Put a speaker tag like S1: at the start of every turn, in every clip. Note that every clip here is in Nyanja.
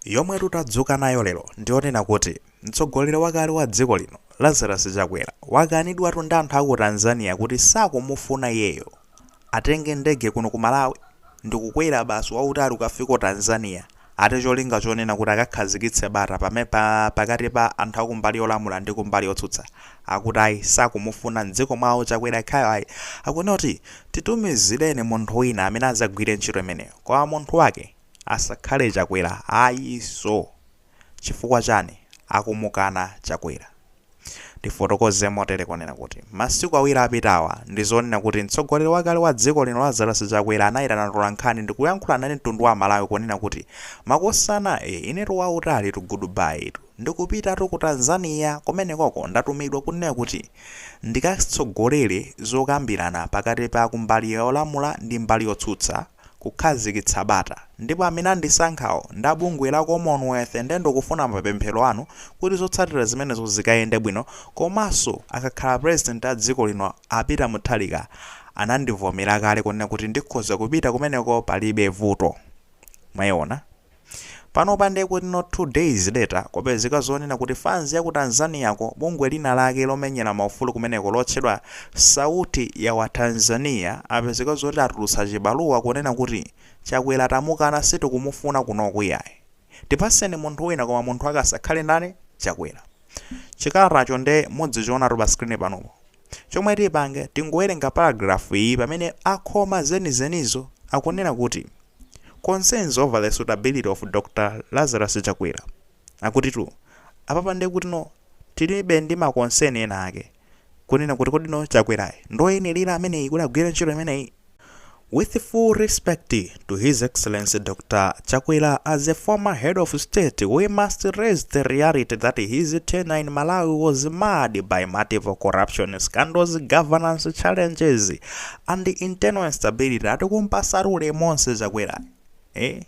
S1: Yomwetu tadzuka nayo lero ndiyonena kuti mtsogoleri wakale wa dziko lino Lazarus Chakwera wakanidwatu ndi anthu aku Tanzania kuti sakumufuna iyeyo atenge ndege kuno ku Malawi ndikukwera basi wautali kukafika Tanzania ati cholinga chonena kuti akakhazikitse bata pamenepa pakati pa anthu akumbali yolamula ndi kumbali yotsutsa akuti ayi sakumufuna mdziko mwawo Chakwera yekhayo ayi akunena kuti titumizireni munthu wina amene azagwire ntchito imeneyo koma munthu wake Asakhale chakwera ayi so chifukwa chani akumukana chakwera tifotokoze motere kunena kuti masiku awiri apitawa ndizonena kuti mtsogoleri wakale wa dziko lino Lazarus chakwera anayitana tolankhani ndikuyankhula nawo mtundu wa amalawi kunena kuti makosana ee inetu wautalitu good bye tu ndikupitatu ku Tanzania kumenekoko ndatumidwa kunena kuti ndikatsogolere zokambirana pakati pa kumbali yolamula ndi mbali yotsutsa kukhazikitsa bata ndipo amene andisankhawo ndi a bungwe la Commonwealth nde ndikufuna mapemphero anu kuti zotsatira zimenezo zikayende bwino komanso angakhale president a dziko lino a Peter Mutharika anandivomera kale kunena kuti ndikhoza kupita kumeneko palibe vuto mwayiona Panopa nde kuti not 2 days later kwapezeka zonena kuti fans yaku Tanzania ko bungwe lina lake lomenyera ma ufulu kumeneko lotchedwa Sauti ya watanzania apezeka zoti atulutsa chibaluwa kunena kuti Chakwera tamukana sitikumufuna kunoku iyayi tipaseni munthu wina koma munthu wake asakhale ndani Chakwera. Chikalatacho nde mudzichionatu pa screen panupo. Chomwe tipange tingowerenga paragraph iyi pamene akhoma zenizenizo akunena kuti. Concerns over the suitability of Dr Lazarus Chakwera akutitu apapa nde kutino tili ndi ma concern ena ake kunena kuti kodino Chakwerayi ndioyenelera ameneyi kuti agwire ntchito imeneyi? With full respect to his excellency Dr Chakwera as a former head of state we must raise the reality that his tenure in Malawi was marred by multiple corruption scandals, governance challenges And internal instability atikumpasatu ulemu onse Chakwerayi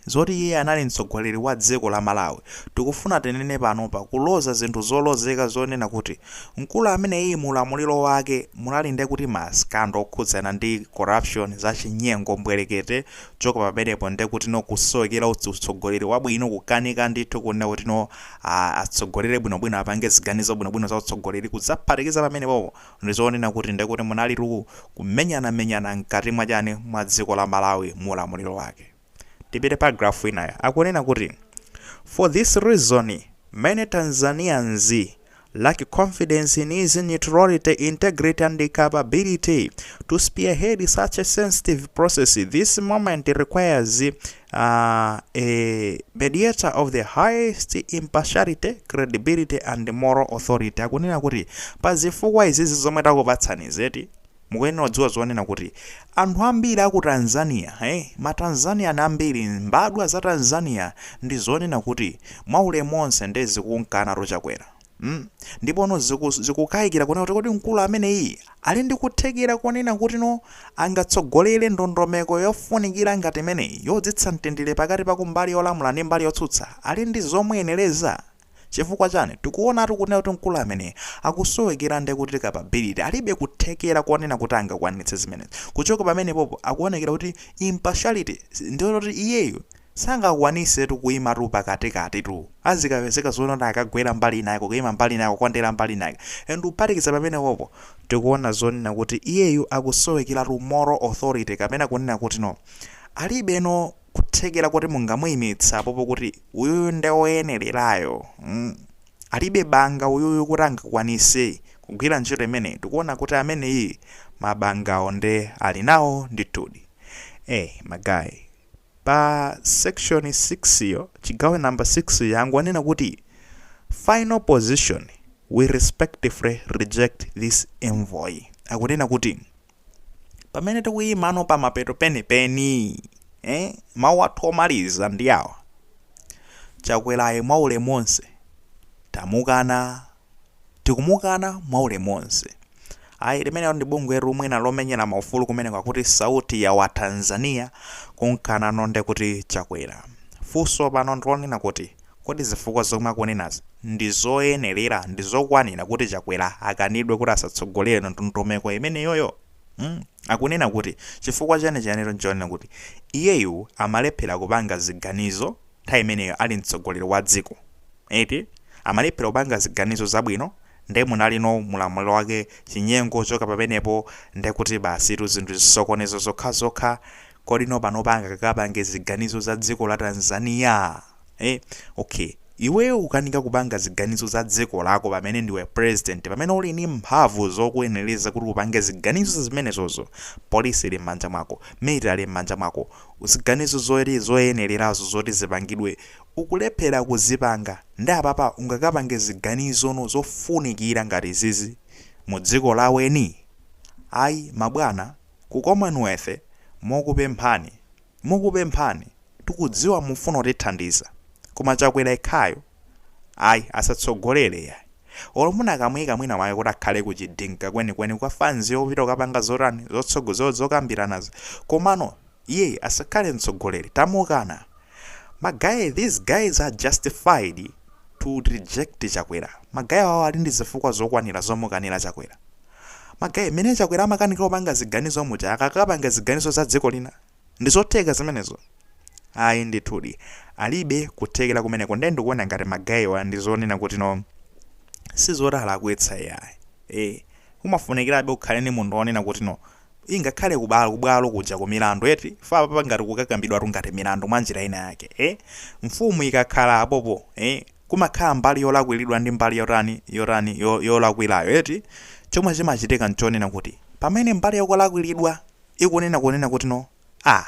S1: zoti iye anali mtsogoleri wa dziko la Malawi tikufuna tinene panopa kuloza zinthu zolozeka zonena kuti mkulu ameneyi mu ulamuliro wake munali ndekuti ma scandal okhudzana ndi corruption za chinyengo mbwerekete kuchoka pamenepo ndekutino kusowekera utsogoleri wabwino kukanika ndithu kunena kutino atsogolere bwinobwino apange ziganizo bwinobwino za utsogoleri kudzaphatikiza pamenepopo Ndi zonena kuti nde kuti munalitu kumenyana menyana mkati mwa chani mwa dziko la Malawi mu ulamuliro wake. Tipite paragraph inayo akunena kuti For this reason many Tanzanians lack confidence in his neutrality, integrity and capability to spearhead such a sensitive process. This moment requires uh, a mediator of the highest impartiality credibility and moral authority akunena kuti pa zifukwa izizi zomwe takupatsanizi eti mukuyenera kudziwa zonena kuti anthu ambiri aku tanzania hey, eh, matanzanian ambiri mbadwa za tanzania ndi zonena kuti mwaulemu onse nde zikumkanatu chakwera Hmm? Ndipono zikukaikira kunena kuti kodi mkulu ameneyi ali ndi kuthekera konena kutino angatsogolere ndondomeko yofunikira ngati imeneyi yodzetsa mtendere pakati pa kumbali yolamula ndi mbali yotsutsa ali ndi zomuyenereza? Chifukwa chani tikuonatu kunena kuti mkulu ameneyi akusowekera nde kuti capability alibe kuthekera konena kuti angakwanitse zimenezi. Kuchoka pamenepopo akuonekera kuti impartiality ndiyoti iyeyu Sangakwanisetu kuimatu pakatikatitu. Azikapezeka zonena akagwera mbali inayake, kuima mbali inayake, kukondera mbali inayake. And kuphatikiza pamenepopo, tikuona zonena kuti iyeyu akusowekeratu moral authority kapena kunena kutino. Alibeno kuthekera koti mungamuimitse apopo kuti uyuyu nde oyenererayo. mm. Alibe banga uyuyu kuti angakwanise kugwira ntchito imeneyi. Tikuona kuti ameneyiyu mabangawo nde alinawo ndithudi. Eh, ma guy. Pa section 6 yo, chigawo number 6 yanu anena kuti final position we respectfully reject this envoy akunena kuti pamene tikuyimano pa mapeto penipeni eh, mawu athu omaliza ndi awa chakwerayo mwaulemu wonse tamukana tikumukana mwa ulemu onse. Ayi limenelo ndi bungwelo mwina lomenyera maufulu kumeneko akuti sauti ya watanzania kumkanano ndekuti chakwera. Funso pano ndi lonena kuti kodi zifukwa zomwe akunenazo ndi zoyenelera ndi zokwanira kuti chakwera akanidwe kuti asatsogolere ndondomeko imeneyoyo? mm akunena kuti chifukwa chenicheniro nchonena kuti iyeyu amalephera kupanga ziganizo. nthawi imeneyo ali mtsogoleri wa dziko eti amalephera kupanga ziganizo zabwino nde munalino mu ulamuliro wake chinyengo kuchoka pamenepo ndekuti basitu zinthu zisokonezo zokhazokha kodino panopa angakapange ziganizo za dziko la Tanzania eh okay iweyo kukanika kupanga ziganizo za dziko lako pamene ndiwe president pamene uli ni mphamvu zokuyenereza kuti upange ziganizo zimenezozo polisi ili m'manja mwako military ili m'manja mwako ziganizo zoti zoyenelerazo zoti zipangidwe ukulephela kuzipanga nde apapa ungakapange ziganizono zofunikira ngati izizi mu dziko la eni? Ayi mabwana aku commonwealth mokupemphani mokupemphani tikudziwa mufuna kutithandiza koma chakwera ekhayo. Ayi, asatsogolere yayi. Olo munakamuika mwina mwake kuti akhale ku chidinka kwenikweni kwa fans yopita kukapanga zotani, zotsogo, zo, zokambiranazo. Komano, iyeyi asakhale mtsogoleri. Tamukana. Ma guy, these guys are justified to reject Chakwera. Ma guy awawa ali ndi zifukwa zokwanira zomukanira Chakwera. Ma guy, mmene Chakwera amakanikira kupanga ziganizo muja, akakapanga ziganizo za dziko lina? Ndi zotheka zimenezo? Ayi ndithudi. Alibe kuthekera kumeneko nde ndikuona ngati ma guy wa ndi zonena kuti no sizoti alakwitsa iyayi. Eeh umafunikirabe ukhale ndi munthu onena kuti no ingakhale ku ba kubwalo kuja ku milandu eti chifukwa apapa ngati kukakambidwatu ngati milandu mwa njira ina yake eeh mfumu ikakhala apopo eeh kumakhala mbali yolakwiridwa ndi mbali yotani yotani yo yolakwirayo eti chomwe chimachitika nchonena kuti pamene mbali yokolakwiridwa ikunena kunena kuti no a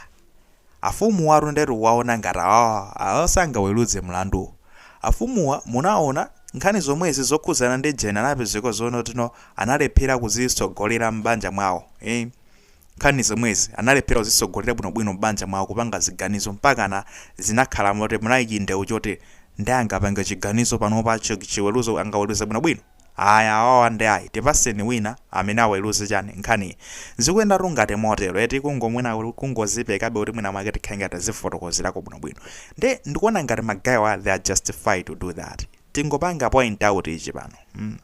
S1: afumuwatu nde tikuwaona ngati awawa awawa sangaweluze mlandu afumuwa munaona nkhani zomwezi zokhudzana ndi jeni anapezeka zonoti no analephera kuzitsogolera mbanja mwawo ii nkhani zomwezi analephera kuzitsogolera bwino bwino mbanja mwawo kupanga ziganizo mpakana zinakhala moti munali chindeu choti nde angapange chiganizo panopa chiweluzo angaweluze bwino bwino Ayi awawa nde ayi tipatseni wina amene aweluze chani nkhaniyi zikuyendatu ngati motero eti kungo mwina kungozipekabe kuti mwina mwake tikhale ngati tazifotokozerako bwino bwino nde ndikuona ngati ma guy wa they are justified to do that tingopanga point out ichi pano mm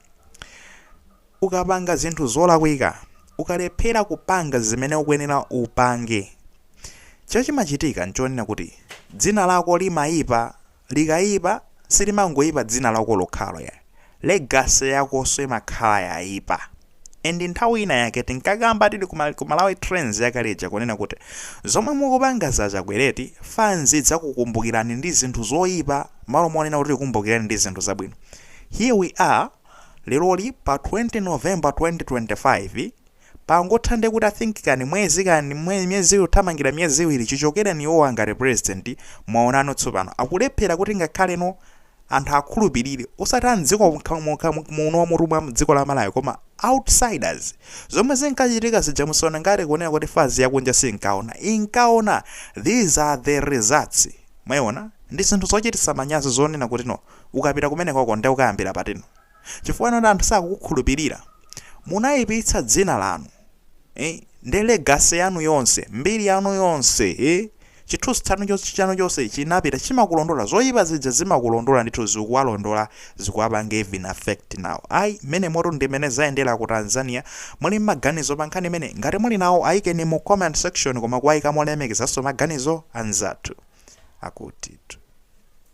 S1: ukapanga zinthu zolakwika ukalephera kupanga zimene ukuyenera upange chochimachitika nchonena kuti dzina lako limayipa Likayipa silimangoyipa dzina lako lokhalo yayi, legacy yakonso imakhala yayipa and nthawi ina yake tinkakamba tili ku ku Malawi trends yakale ija kunena kuti zomwe mukupangazi a Chakwera eti fans idzakukumbukirani ndi zinthu zoyipa mmalo monena kuti ikukumbukireni ndi zinthu zabwino here we are leroli pa 20 November 2025 pangotha ndekuti I think kani mwezi kani mwe, miyezi iwiri kuthamangira miyezi iwiri chichokereni iwowa ngati president mwaonano tsopano akulephera kuti ngakhaleno anthu akhulupirire osati a mdziko mka- muka- mu- muno mutu mwa dziko la malawi koma outsiders zomwe zinkachitika zija musaona ngati kunena kuti fans yakunja sinkaona inkaona these are the results mwayiona ndi zinthu zochititsa manyazi zonena kuti no ukapita kumenekoko nde ukayambira patino chifukwa choti anthu sakukukhulupirira munaipitsa dzina lanu eh nde legacy yanu yonse mbiri yanu yonse eh chithunzi chanu chonse chanu chonse chinapita chimakulondola zoyipa zija zimakulondola ndithu zikuwalondola zikuwapanga even effect nawo ayi mmenemotu ndi mmene zayendera ku Tanzania muli mmaganizo pa nkhani imeneyi ngati muli nawo ayikeni mu comment section koma kuwayika molemekezanso maganizo anzathu akutitu